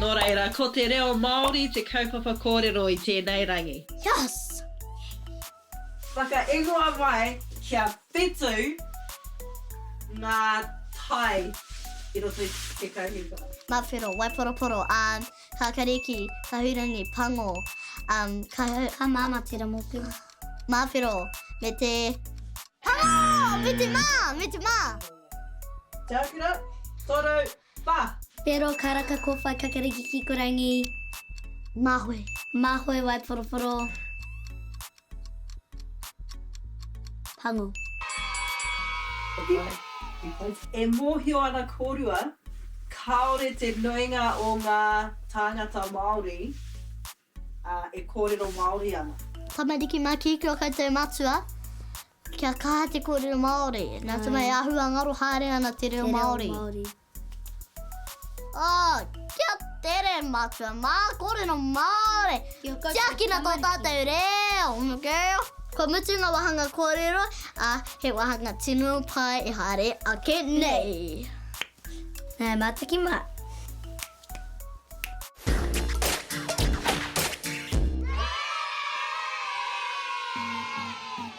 Nō reira, ko te reo Māori te kaupapa kōrero i tēnei rangi. Yas! Whakaingoa mai kia whitu ngā tai i roto i te kaupapa. Mawhero, Waiporoporo, Kākariki, Kahurangi, Pango, Kāmāmā, Teramotu. Māwhero, me te Paro! Me te mā! Me te mā! Te Akira, Toru, Pa! Whero, Karaka, Kowhai, Kakariki, Kikorangi. Māhoe, Māhoe, Waiporotoro, Pango. E mōhio ana kōrua, kāore te nuinga o ngā tāngata Māori Ā, e kōrero Māori ana. Tamariki mā kī ki ō koutou matua, kia kaha te kōrero Māori. Nā te mea e āhua ngaro haere ana te reo Māori. Ā, kia tere matua mā, kōrero Māori. Tiakina tō tātou reo, okay? Kua mutu ngā wāhanga kōrero, ā, he wāhanga tino pai e haere ake nei. Nā, e mātaki mā.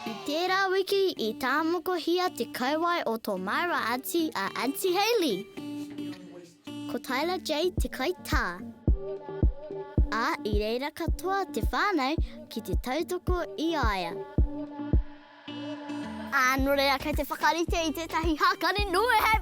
I tērā wiki i tāmokohia te kauae o tō māua aunty a Aunty Hayley. Ko Tyler Jade te kaitā. Ā, i reira katoa te whānau ki te tautoko i a ia. Ā, nō reira kei te whakarite i tētahi hākari nui hei.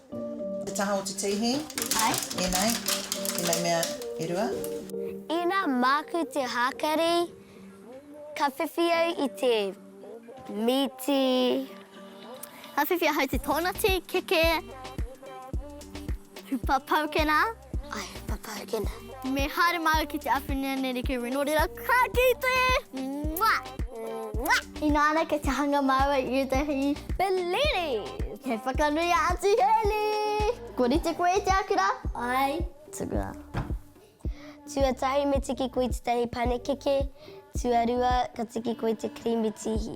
Te taha o te tihi. Ae. Enei, enei mea e rua. Ina maku te hakari, ka whiwhi au i te miti. Ka whiwhi ahau te tonati, keke, hupa paukena. I am a pumpkin. Me haere māua ki te Awhenua nei reke me nō reira krakite! Mua! Mua! Ina ana kei te hanga māua i ētahi peliri! Kei whakanui a Aunty Hayley! Kua rite koe i te akira? Ai, tukuna. Tuatahi me tiki koe i tētahi panekeke, tuarua ka tiki koe i te kirīmi tīhi.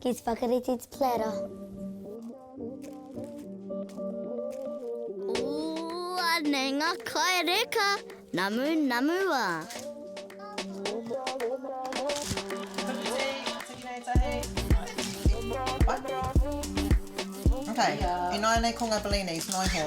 Ki te whakarite te platter. Ooh, anei nga kai reka. Namu, namu a. Okay, ināianei ko nga bellinis, noiho.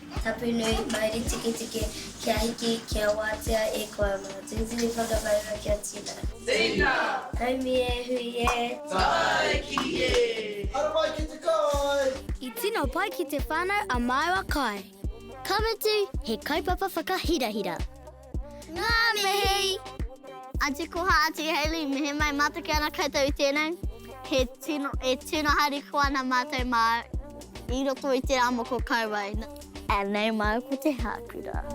Tapunui, Mauri Tiketike, Kia hiki, kia wātea e koa Mā Tūturu whakamaua kia tīmata. Tīna! Haumi e hui e! Tāi ki e! Haramai ki te kai! I tino pai ki te whanau a maua kai. Ka mutu, he kaupapa whakahirahira. Ngā mihi! Aunty Koha, Aunty Hayley, me he mai matoke ana koutou i tēnei. He tino, e tino hari koa ana mātou mā i roto i te rā moko kauae. Anei māu ko te hākura.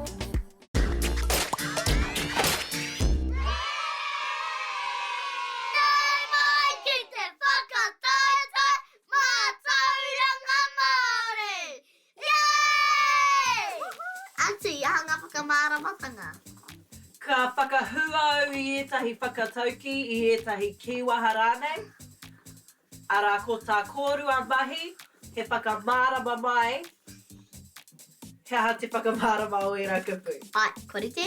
Yay! Atu i aha ngā whakamāramatanga? Ka whakahū au i ētahi whakataukī, i ētahi kīwaha rānei, arā, ko tā kōrua mahi he whakamārama mai he aha te whakamārama o ērā kupu. Āe, kua rite.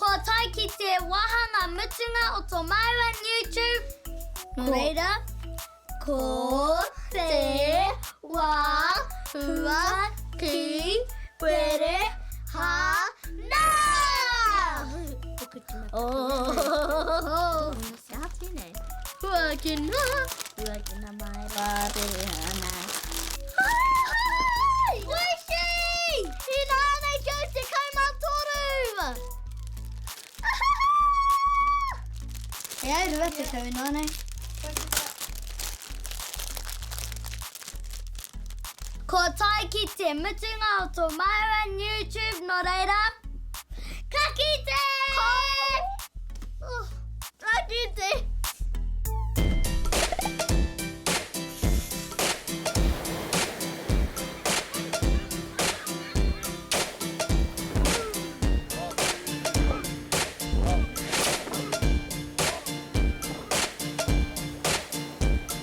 Kua tae ki te wāhanga mutunga o tō māua Newtube, nō reira, ko te wā hua ki where hānaa! Kia hapi nei. Huakina, huakina mai rā te ana. Hai! Wishi! Ina ana ki au te kai mā tōru! E ai rua te tau ina ana. Ko tai ki te mutunga o to maua YouTube no reira Ka kite! Oh, ka kite!